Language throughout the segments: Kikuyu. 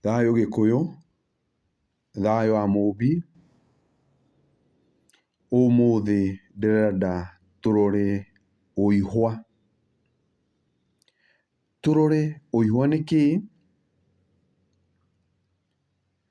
Thayũ Gĩkũyũ, thayũ wa mũmbi, ũmũthĩ ndĩrenda tũrore ũihwa. Tũrore ũihwa nĩ kĩĩ?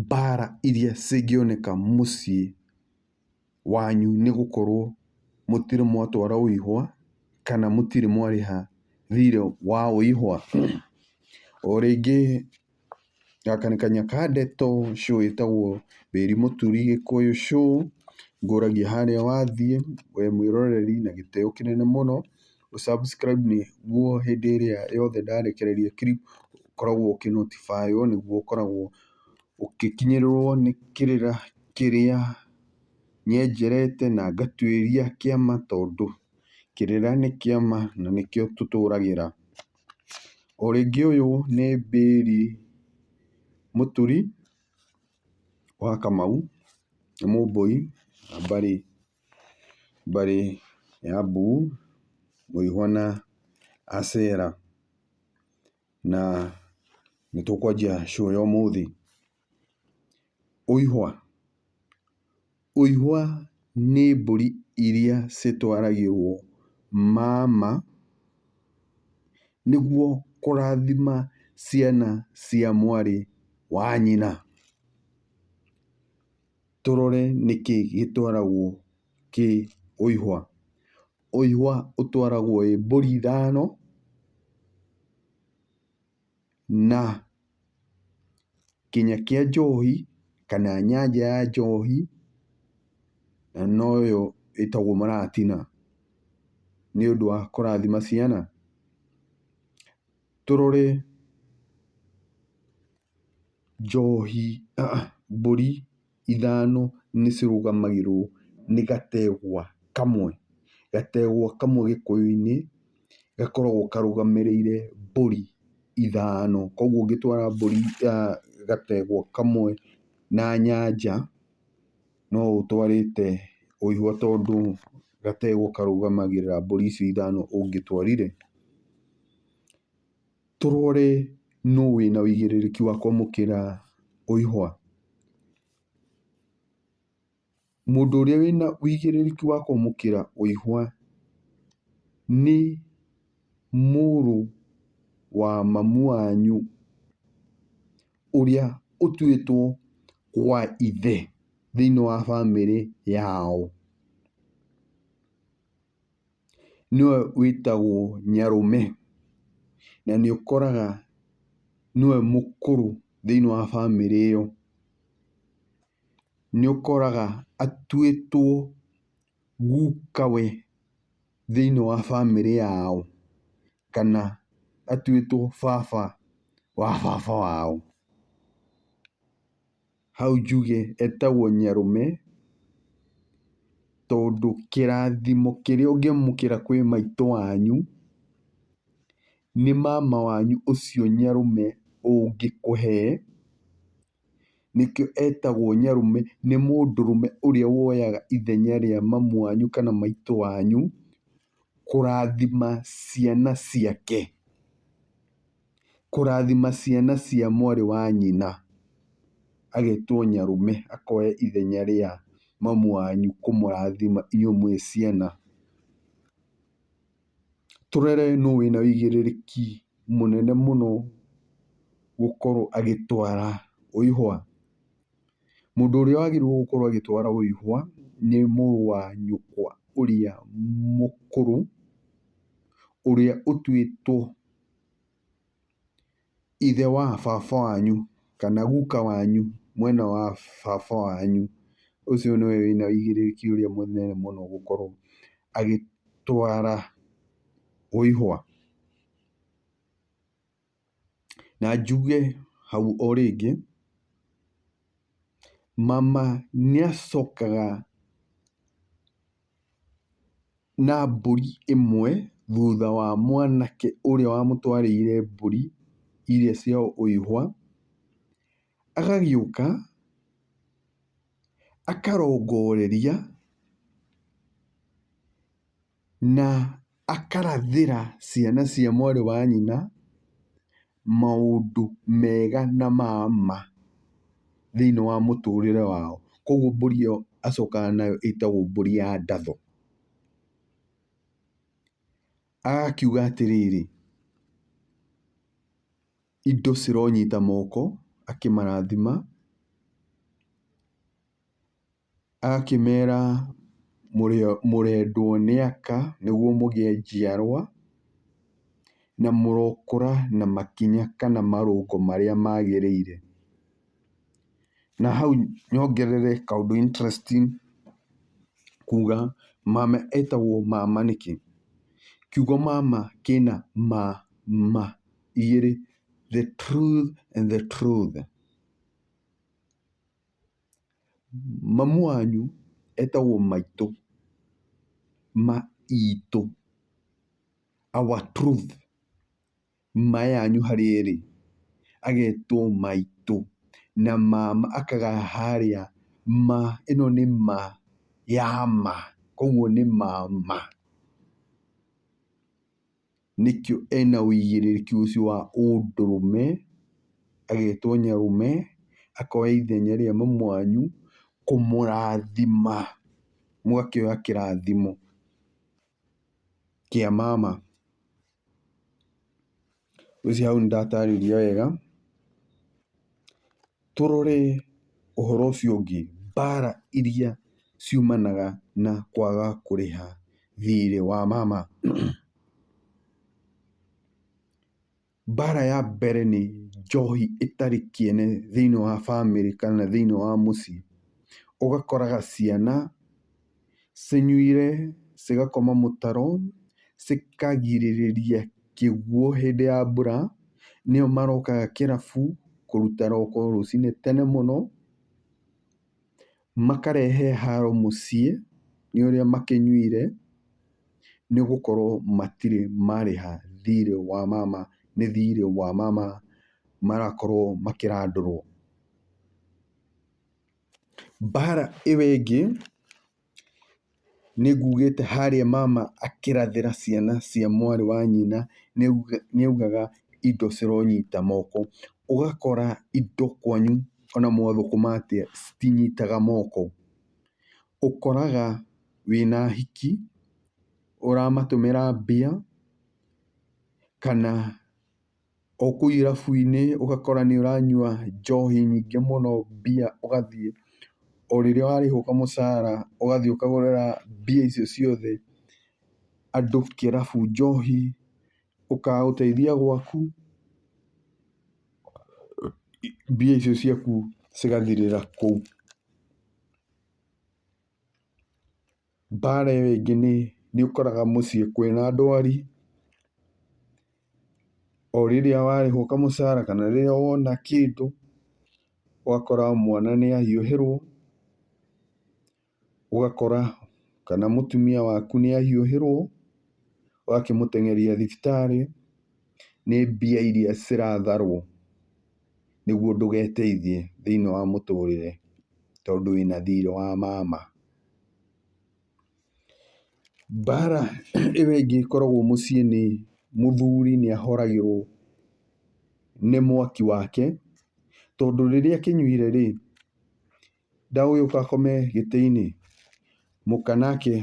Mbara iria cingĩoneka mũciĩ wanyu nĩ gũkorwo mũtirĩ mwatwara ũihũwa, kana mũtirĩ mwarĩha thirĩ wa ũihũwa. O rĩngĩ gaka nĩ kanya ka ndeto, show ĩtagwo Wĩri Mũturi Gĩkũyũ Show, ngũragia harĩa wathiĩ, we mwĩroreri na gĩtĩo kĩnene mũno. gũ subscribe nĩguo hĩndĩ ĩrĩa yothe ndarekereria clip ũkoragwo ũkĩ notify wo nĩguo ũkoragwo ũgĩkinyĩrĩrwo nĩ kĩrĩra kĩrĩa nyenjerete na ngatuĩria kĩama tondũ kĩrĩra nĩ kĩama na nĩkĩo tũtũragĩra. O rĩngĩ ũyũ nĩ Bĩri Mũturi wa Kamau, nĩ Mũmbũi na Mbarĩ. bari ya bu muihwa na Asera, na nĩtũkwanjia show ya ũmũthĩ. Ũihwa, ũihwa nĩ mbũri iria citwaragĩrwo mama nĩguo kũrathima ciana cia mwarĩ wa nyina. tũrore nĩkĩ gĩtwaragwo kĩ ũihwa. Ũihwa ũtwaragwo ĩ mbũri ithano, na kĩnya kĩa njohi, kana nyanjaa ya njohi, na noyo ĩtagwo maratina, nĩ ũndũ wa kũrathima ciana. tũrore njohi, mbũri ithano nĩ cirũgamagĩrĩrwo nĩ gategwa kamwe. Gategwa kamwe gĩkũyũ-inĩ gakoragwo karũgamĩrĩire mbũri ithano. Koguo ũngĩtwara mbũri, gategwa kamwe na nyanja. no ũtwarĩte ũihwa tondũ gategwa karũgamagĩrĩra mbũri icio ithano ũngĩtwarire, tũrore nũ wĩna wĩigĩrĩrĩki wa kwamũkĩra ũihwa. Mũndũ ũrĩa wĩna wĩigĩrĩrĩki wa kwamũkĩra ũihwa nĩ mũrũ wa mamu wanyu, ũrĩa ũtuĩtwo wa ithe thĩiniĩ wa bamĩrĩ yao, nĩwe wĩtagwo nyarũme. Na nĩ ũkoraga nĩwe mũkũrũ thĩiniĩ wa bamĩrĩ ĩyo. Nĩ ũkoraga atuĩtwo gukawe thĩiniĩ wa bamĩrĩ yao. kana atuĩtwo baba wa baba wao. Hau njuge etagwo nyarũme, tondũ kĩrathimo kĩrĩa ũngĩamũkĩra kwĩ maitũ wanyu, nĩ mama wanyu ũcio nyarũme ũngĩkũhe. nĩkĩo etagwo nyarũme, nĩ mũndũrũme ũrĩa woyaga ithenya rĩa mamu wanyu kana maitũ wanyu kũrathima ciana ciake, kũrathima ciana cia mwarĩ wa nyina, agetwo nyarũme, akoya ithenya rĩa mamu wanyu kũmũrathima inyuĩ mwĩ ciana. Tũrore nũ wĩna wĩigĩrĩrĩki mũnene mũno gũkorwo agĩtwara ũihũwa. Mũndũ ũrĩa wagĩrĩirwo gũkorwo agĩtwara ũihũwa nĩ mũrũ wa nyũkwa ũrĩa mũkũrũ, ũrĩa ũtuĩtwo ithe wa baba wanyu, kana guka wanyu, mwena wa baba wanyu, ũcio nĩwe wĩna ũigĩrĩrĩki ũrĩa mũnene mũno gũkorwo agĩtwara wĩihwa. Na njuge hau o rĩngĩ, mama nĩacokaga na mbũri ĩmwe thutha wa mwanake ũrĩa wamũtwarĩire mbũri iria cia ũihwa, agagĩũka akarongoreria na akarathĩra ciana cia mwarĩ wa nyina, maũndũ mega na ma ma thĩiniĩ wa mũtũrĩre wao. Koguo mbũri ĩyo acokaga nayo ĩtagwo mbũri ya ndatho. Agakiuga atĩrĩrĩ, indo cironyita moko akĩmarathima. Akĩmera, Mũrendwo nĩ Aka nĩguo mũgĩe njiarwa, na mũrokũra na makinya kana marũngo marĩa magĩrĩire. Na hau nyongerere kaũndũ interesting kuuga mama etagwo mama nĩkĩ? Kiugo mama kĩna ma ma igĩrĩ, the truth and the truth. Mamu wanyu etagwo maitũ, ma itũ, our truth. Ma yanyu harĩa ĩrĩ agetwo maitũ na mama akagaya harĩa ma, ĩno nĩ ma ya ma, koguo nĩ mama. nĩkĩo ena ũigĩrĩrĩki ũcio wa ũndũrũme, agetwo nyarũme, akoya ithenya rĩa mami wanyu kũmũrathima, mũgakĩoya kĩrathimo kĩa mama. Ngwĩciria hau nĩ ndatarĩria wega. Tũrore ũhoro ũcio ũngĩ, mbara iria ciumanaga na kwaga kũrĩha thiirĩ wa mama. Mbara ya mbere nĩ njohi ĩtarĩ kĩene thĩiniĩ wa bamĩrĩ kana thĩiniĩ wa mũciĩ, ũgakoraga ciana... cinyuire cigakoma mũtaro cikagirĩrĩria kĩguũ hĩndĩ ya mbura, nĩo marokaga kĩrabu kũruta roko rũcinĩ tene mũno, makarehe haro mũciĩ nĩ ũrĩa makĩnyuire, nĩ gũkorwo matirĩ marĩha thirĩ wa mama nĩ thirĩ wa mama marakorwo makĩrandũrwo. Mbaara ĩyo ĩngĩ nĩ nguugĩte harĩa mama akĩrathĩra ciana cia mwarĩ wa nyina nĩ augaga indo cironyita moko. Ũgakora indo kwanyu ona mwathũkũma atĩa citinyitaga moko. Ũkoraga wĩna ahiki ũramatũmĩra mbia kana o kũu irabu-inĩ ũgakora nĩ ũranyua njohi nyingĩ mũno, mbia ũgathiĩ, o rĩrĩa warĩhwo kamũcara ũgathiĩ ũkagũrĩra mbia icio ciothe andũ kĩrabu njohi, ũkaga gũteithia gwaku, mbia icio ciaku cigathirĩra kũu. Mbaara ĩyo ĩngĩ nĩ, nĩ ũkoraga mũciĩ kwĩna ndwari, o rĩrĩa warĩhwo kamũcara kana rĩrĩa wona kĩndũ, ũgakora mwana nĩ ahiũhĩrwo, ũgakora kana mũtumia waku nĩ ahiũhĩrwo, ũgakĩmũteng'eria thibitarĩ, nĩ mbia irĩa ciratharwo nĩguo ndũgeteithie thĩiniĩ wa mũtũrĩre tondũ wĩna thiirĩ wa mama. Mbaara ĩyo ĩngĩ ĩkoragwo mũciĩ nĩ mũthuri nĩ ahoragĩrwo nĩ mwaki wake, tondũ rĩrĩa akĩnyuire rĩ, ndagũgĩũka akome gĩtĩ-inĩ, mũka nake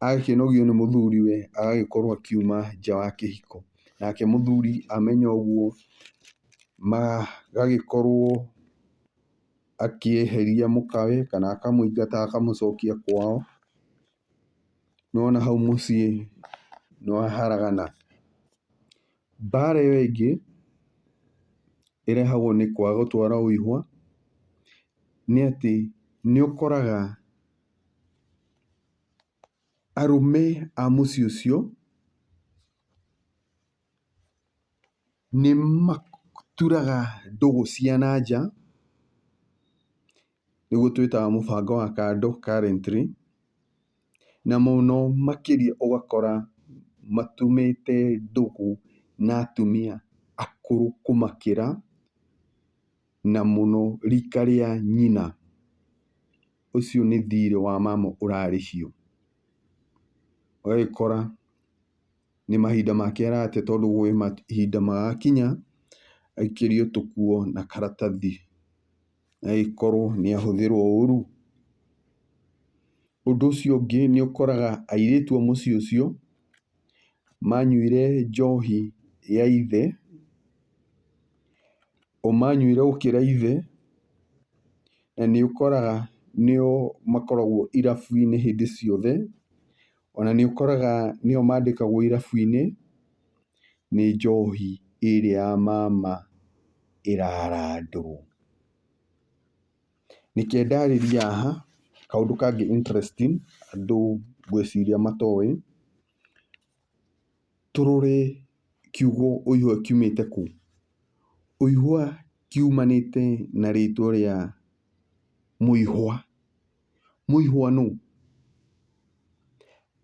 agakĩnogio nĩ mũthuriwe agagĩkorwo akiuma nja wa kĩhiko. Nake mũthuri amenya ũguo magagĩkorwo... akĩeheria mũkawe kana akamũingata akamũcokia kwao. Nĩ wona hau mũciĩ nĩ waharagana. Mbara ĩyo ĩngĩ ĩrehagwo nĩ kwaga gũtwara ũihũwa nĩ atĩ nĩ ũkoraga arũme a mũciĩ ũcio... Nĩ maturaga ndũgũ cia na nja, nĩguo twĩtaga mũbango wa kando currently, na mũno makĩria ũgakora matumĩte ndũgũ na atumia akũrũ kũmakĩra, na mũno rika rĩa nyina. Ũcio nĩ thirĩ wa mama ũrarĩhio. Ũgagĩkora. nĩ mahinda make arate tondũ gwĩ mahinda magakinya aikĩrio tũkuo na karatathi na agĩkorwo nĩ ahũthĩrwo ũru. Ũndũ ũcio ũngĩ nĩ ũkoraga airĩtu a mũciĩ ũcio manyuire njohi ya ithe, o manyuire gũkĩra ithe, na nĩ ũkoraga nĩo makoragwo irabu-inĩ hĩndĩ ciothe. Ona nĩ ũkoraga nĩo mandĩkagwo irabu-inĩ nĩ njohi ĩrĩa ya mama ĩrarandwo. Reke ndarĩrie haha kaũndũ kangĩ interesting andũ ngwĩciria matoĩ. Tũrore kiugo ũihwa kiumĩte kũ? Ũihwa kiumanĩte na rĩtwa rĩa mũihwa. Mũihwa nũ?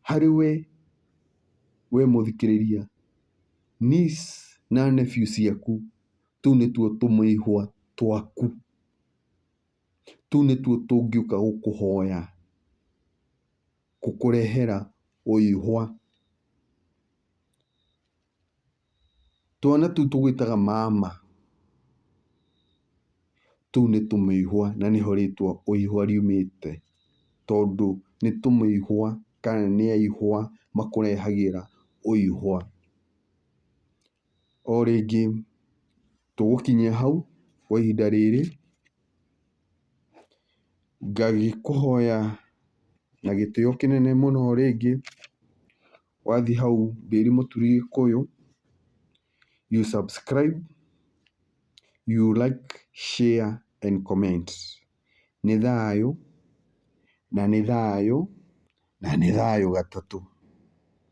Harĩ we we mũthikĩrĩria, niece na nephew ciaku, tũu nĩtuo tũmĩihwa twaku. Tũu nĩtuo tũngĩũka gũkũhoya, gũkũrehera ũihwa. Twana tũu tũgwĩtaga mama, tũu nĩ tũmĩihwa na nĩho rĩtwa ũihwa riumĩte, tondũ nĩ tũmĩihwa kana nĩ aihwa makũrehagĩra ũihwa. O rĩngĩ tũgũkinya hau kwa ihinda rĩrĩ, ngagĩkũhoya na gĩtĩo kĩnene mũno rĩngĩ, wathiĩ hau mbĩri mũturi gĩkũyũ, you subscribe, you like, share and comment. Nĩ thayũ, na nĩ thayũ, na nĩ thayũ gatatũ.